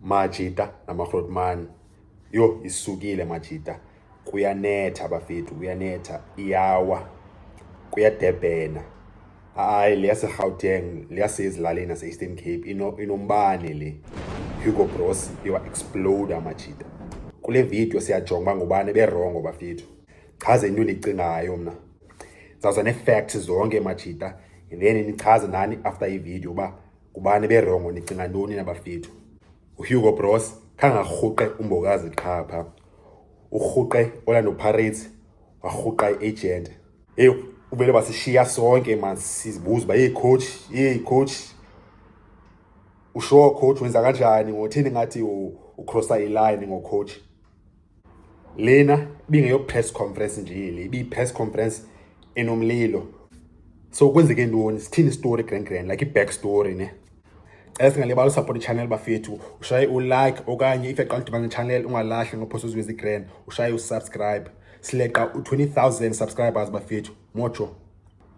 Majita namaRhotmani. Yho, isukile Majita. Kuyanetha bafethu, kuyanetha. Iyawa. Kuyadebhena. Hayi le yaseGauteng, le yasezilalini yase-Eastern Cape inombane le. Hugo Broos iwa-exploda Majita. Kule vidiyo siyajonga uba ngubani eberongo bafethu. Chaze into endiyicingayo mna. Ndizawuza nee-facts zonke majita then nichaze nani after ividiyo uba kubani berongo nicinga ntoni nabafethu uhugo bros khangarhuqe umbokazi qha pha urhuqe orlando pirates warhuqa i-agent eyi uvele basishiya sonke man sizibuza uba yeyi coach yeyi coach ushowo coach wenza kanjani ngothini ngathi ucrossa iline ngocoach lena ibingeyo-press conference nje le ibiyi-press conference enomlilo so kwenzeke ntoni sithini istory grand grand like i-back story ne cela singalibali usupport ichannel bafethu ushaye ulike okanye if yaqala udibana nechannel ungalahli ngophosa uziwezi grand ushaye usubscribe sileqa u-20000 subscribers bafethu mojo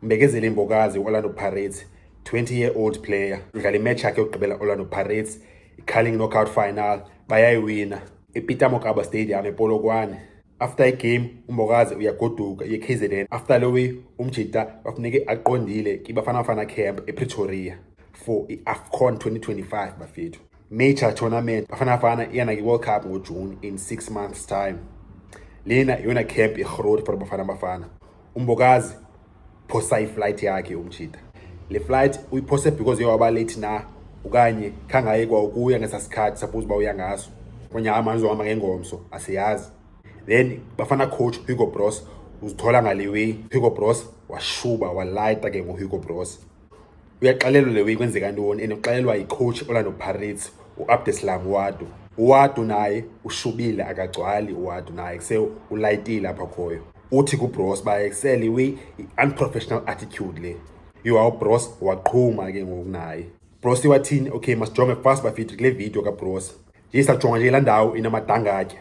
mbekezele imbokazi i-orlando pirates 20 year old player udlala imatch yakhe yokugqibela orlando pirates i-carling knockout final bayayiwina epeter mokaba stadium epolokwane after igame umbokazi uyagoduka ye-kzn after lowi umjita bafuneke aqondile kibafana bafana camp epretoria for i-afcon 2025 bafethu major tournament bafana bafana iyana ki-world cup ngojune in six months time lena iyona camp irhorori for bafana bafana umbokazi phosa iflight yakhe umjita le flight uyiphose because yewaba late na okanye khangaye kwa ukuya ngesa sikhathi suppose uba uya ngaso okanye hayi manje uhamba ngengomso asiyazi then bafana coach hugo bros uzithola ngale way hugo bros washuba walayita ke ngohugo bros uyaxelelwa le weyi kwenzeka ntoni and uxelelwa yicoach olando pirates uabdeslam wado uwadu naye ushubile akagcwali uwadu naye kuse ulayitile apha khoyo uthi kubros uba excel iwi i-unprofessional attitude le iwa ubros waqhuma ke ngoku naye bros iwathini okay masijonge fast bafiti kule video kabros nje sajonga nje la ndawo inamadangatya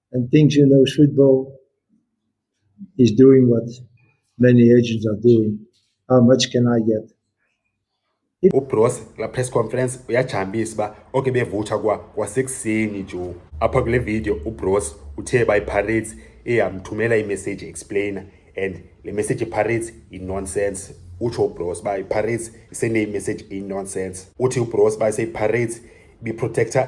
and thinks he knows football is doing what many agents are doing. How much can I get? ubros la press conference uyajambisa uba oke bevutsha kwa kwasekuseni jo apha kule video ubros uthe uba ipirates eyamthumela imessage explainer and le message ipirates inonsense utsho ubros uba ipirates iseneyimessage inonsense uthi ubros uba iseyipirates ibiprotector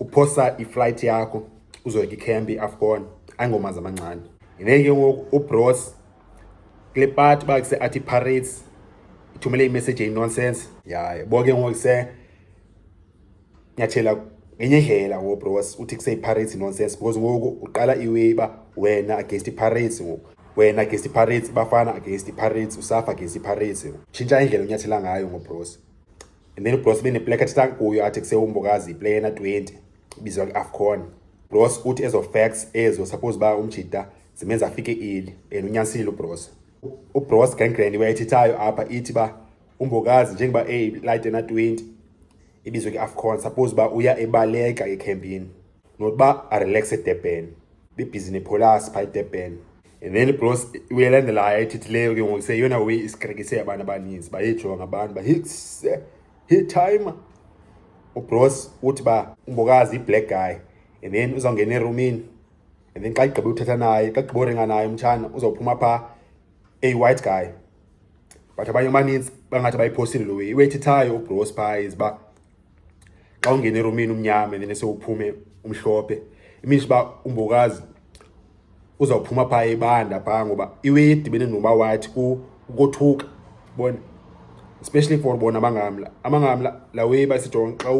uphosa iflight yakho uzoyeka ikhempi afcon ayingomanzi amancane yineke ke ngoku ubros kule pati uba kuse athi parades ithumele imessage eyinonsense ya yabo ke ngoku se nyathela ngenye indlela ngoku bros uthi kuseyiparades nonsense because ngoku uqala iway uba wena against iparades ngoku wena against iparades bafana against iparades usafa against iparades tshintsha indlela onyathela ngayo ngobros and then ugross beneplek athetha kuyo athi kusewumbokazi iplayer na 20 ibizwa kwi-afcon gross uthi ezo facts ezo suppose uba umjita zimenza afike eli and unyanisile ubros ubros gangrand wayethethayo apha ithi uba umbokazi njengoba eyilite na 20 ibizwe kwi-afcon suppose uba uya ebaleka ekhempini nokuba arelaxe edebhen bebhizi nepholasi phaa edebhen and then bros uyelandelayo ethithileyo ke ngoku seyeyona way isikrekise abantu abaninzi bayejonga abantu ba hits he time ubros uthi ba umbokazi iblack guy and then uzawungena erumini and then xa igqibe uthetha naye xa igqibe uringa naye umtshana uzawuphuma phaa a white guy but abanye abaninzi bangathi bayiphosile lo way iwethithayo ubros phaa iziba xa ungene eromini umnyama and then sewuphume umhlophe iminisha uba umbokazi uzawuphuma phaa ebanda phaa ngoba iwe idibene noba wathi kukothuka bona especially for bona amangamla amangamla la way basijonge xa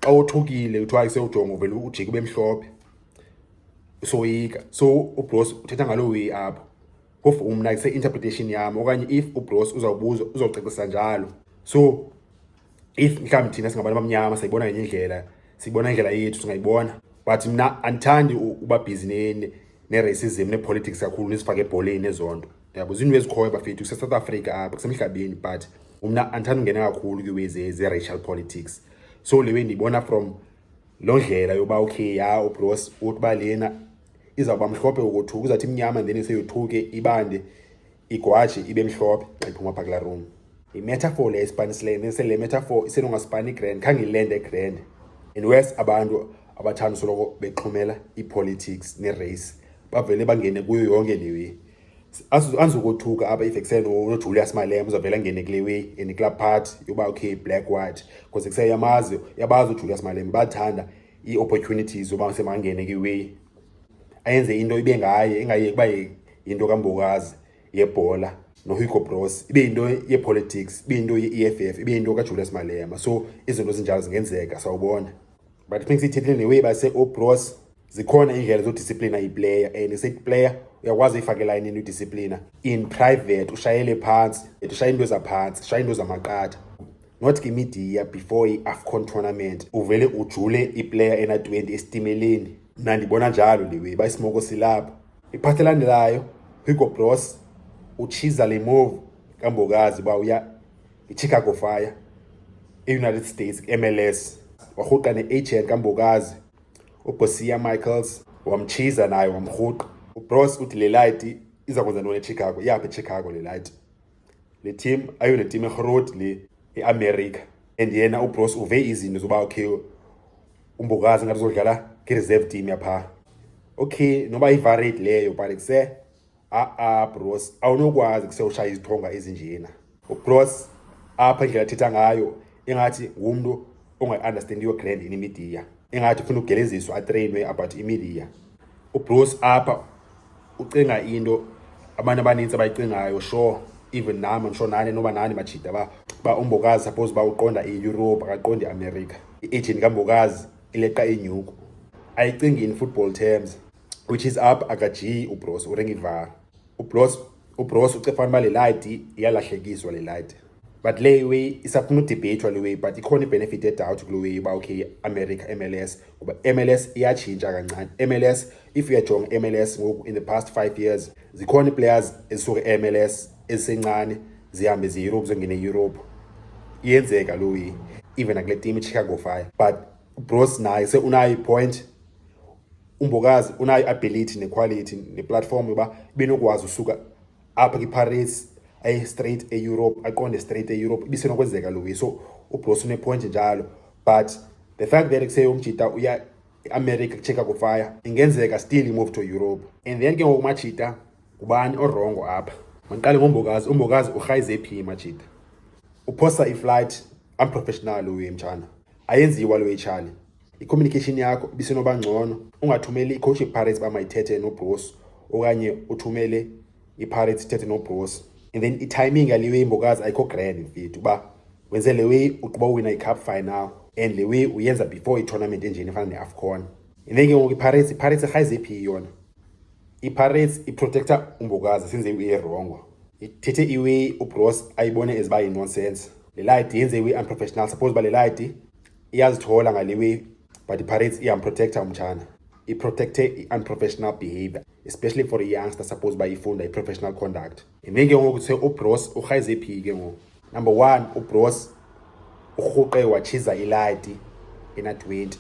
xa othukile kuthiwa isewujongo vele ujike ube mhlophe soyika so ubros uthetha ngaloo way apho phofu umna kuse-interpretation yam okanye if ubros uzawubuza uzawucacisa njalo so if mhlawumbi thina singabantu abamnyama sayibona ngenye indlela siyibona indlela yethu singayibona but mna andithandi uba bhizi ne-racism ne-politics kakhulu nezifake ebholeni nezo nto yabo zinto ezikhoyo bafethu kusesouth africa apha kusemhlabeni but mna andithanda ungena kakhulu kwiwe ze-racial politics so le wendiyibona from loo ndlela yoba okay ya ubros uthi uba lena izawuba mhlophe ukothuka uzawuthi imnyama then seyothuke ibande igwashi ibe mhlophe xa iphuma phaa kulaa room yimetafor le isipanisileyo nese le metafor isenongasipani grand khange ilende grand and wes abantu abathanda usoloko bexhumela ii-politics ne-race bavele bangene kuyo yonke le way andizokothuka apha if ekuseni unojulius malema uzavele angene kule way and kulaa part yoba okay black white because ekuseyamazi yabazi ujulius malema bathanda ii-opportunities yoba semangene kwiway ayenze into ibe ngaye ingayeki uba yinto kambokazi yebhola nohugo bros ibe yinto yepolitics ibe yinto ye-e f f ibe yinto kajulius malema so izinto ezinjalo zingenzeka sawubona but funeka siyithethile newey base obros zikhona iindlela zodisiplina iplayer and sethi player uyakwazi uyifakela inini udisiplina in private ushayele phantsi et ushaye into ezaphantsi ushaye into zamaqatha not ke media before i-afcon tournament uvele ujule iplayer ena-20 esitimeleni Mna ndibona njalo ndiwe ba isimoko silapho. Iphathi elandelayo Hugo Broos utshiza le move kambokazi uba uya iChicago Fire eUnited States MLS warhuqa ne-agent kambokazi uBosia Michaels wamtshiza naye wamrhuqa. UBroos uthi le light iza kwenza ntoni eChicago, iyaphi eChicago le light? le team ayo le team erhorodi le eamerica and yena ubros uve izinto zoba okay umbokazi ngathi uzodlala nge-reserve team yapha okay noba ivarate leyo but kuse a-a bros awunokwazi kuse ushaya izithonga ezinjena ubros apha indlela athetha ngayo ingathi ngumntu ongayi-understandiyo grand in imidiya ingathi ufuna ugeleziswa atreyinwe about imidiya ubruce apha ucinga into abantu abanintsi abayicingayo sure even nam ndisho nani noba nani majida ba ba umbokazi suppose uba uqonda iyurope akaqondi iamerica i-agent kambokazi ileqa inyuku ayicingi in football terms which is up akajiyi ubros urengivar ubros ubros uce fanuba le light iyalahlekiswa le light but le way isafuna udebhethwa le way but ikhona ibenefit edoubt kule way uba okay america mls ngoba mls iyatshintsha kancane mls if uyajonga mls ngoku in the past five years zikhona iplayers ezisuke emls ezisencane zihambe zieurope zongena eeurope iyenzeka lo way even akule team ichicago fire but bros naye seunayo ipoint umbokazi unayo i-ability nequality neplatform yoba benokwazi usuka apha kwiparis aye straight eeurope aqonde straight eeurope ibisenokwenzeka lowi so ubros unepoint njalo but the fact that kuseye umjita uya eamerica kucheka kufaya ingenzeka still imove to europe and then ke ngoku umajita ngubani orongo apha mandiqale ngombokazi umbokazi urhayize phi imajita uphosa iflight unprofessional uye mtshana ayenziwa lo etshali Icommunication yakho bisenoba ngcono ungathumeli icoach ipirates uba mayithethe nobrosi okanye uthumele ipirates ithethe nobrosi and then itiming yale way imbokazi ayikho grand mfethu uba wenze le way uqhuba uwina icup final and le way uyenza before itournament enjeni efana ne-afcon and then ke ngoku ipirates ipirates irhayize iphi yona ipirates iprotector umbokazi since uyirongo ithethe iway ubros ayibone eziba yinonsense le light yenze iway unprofessional suppose uba le light iyazithola ngale way but ipirates iyamprotecta umtshana iprotecte i-unprofessional behavior especially for i-youngster suppose uba ifunda i-professional conduct yimini ke ngoku kuthiwe ubros urhayize phi ke ngoku number one ubros urhuqe watshiza iladi ena-twenty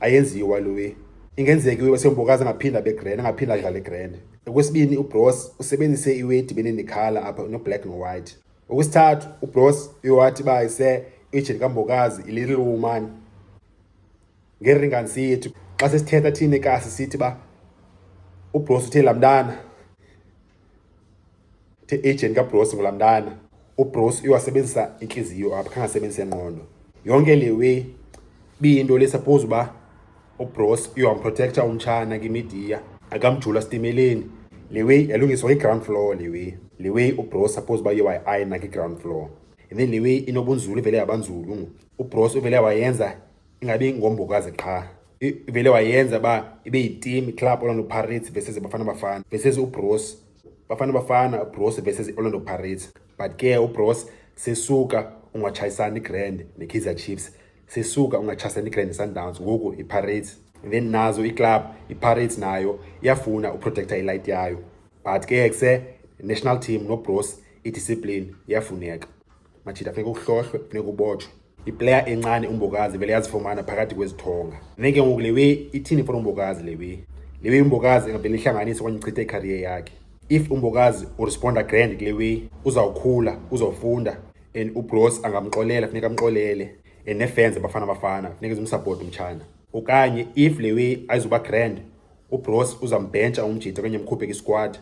ayenziwa lowe ingenzeki uye wasembokazi angaphinda abe grand angaphinda adlale grand okwesibini ubros usebenzise iweti benendikhala apha unoblack nowhite Okwesithathu, ubros iwathi uba ise ijeni kambokazi ilittle woman ngeringansi yethu xa sesithetha thina ekasi sithi uba ubros uthe laa mntana the ijeni kabros ngulaa mntana ubros iwasebenzisa intliziyo apha khangasebenzise ngqondo yonke le way biyinto le suppose uba ubros iwan protector umtshana kimidiya akamjula sitimeleni le way yalungiswa kwi-ground floor le way le way ubros suppose uba iye ayina kwi-ground floor and then le way inobunzulu ivele yabanzulu ubros uvele wayenza ingabi ngombokazi qha ivele wayenza uba ibe yiteam club orlando pirates versus bafana bafana versus ubros bafana bafana ubros versus orlando pirates but ke ubros sesuka ungatshayisani igrand nekaizer chiefs sisuka ungachasene igrand sundowns ngoku ipirates and then nazo iclub ipirates nayo iyafuna uprotecta ilight yayo but ke kuse national team nobros idiscipline iyafuneka majita funeka uhlohlwe funeka ubotshwe iplayer encane umbokazi vele yazifumana phakathi kwezithonga then ke ngoku lewe ithini fona umbokazi lewe lewe umbokazi engavele ihlanganise okanye ichithe icarrier yakhe if umbokazi uresponda grand kule way uzawukhula uzawufunda and ubros angamxolela funeka amxolele and nefans abafana bafana funeka zimsapoti umtshana okanye if le way ayizuba grand ubros uzambhentsha umjita okanye mkhuphe kwisquad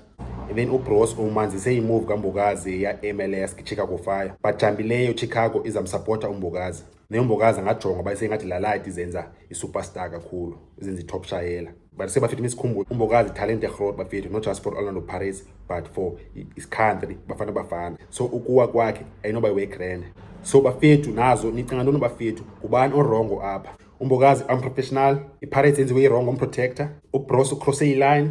and then ubros umanzise imove kambokazi ya-mls chicago fire bajambileyo chicago izamsapota umbokazi neyombokazi angajonga uba isengathi lalayithi izenza isuperstar kakhulu izenza itop shayela but sebafithe isikhumbulo umbokazi italente erhod bafithe not just for orlando paris but for iscountry bafana bafana so ukuwa kwakhe ayinoba iwegrand so bafethu nazo nicinga ntoni bafethu ngubani orongo apha umbokazi unprofessional ipirates yenziwe irongo umprotector ubros ucrosse iline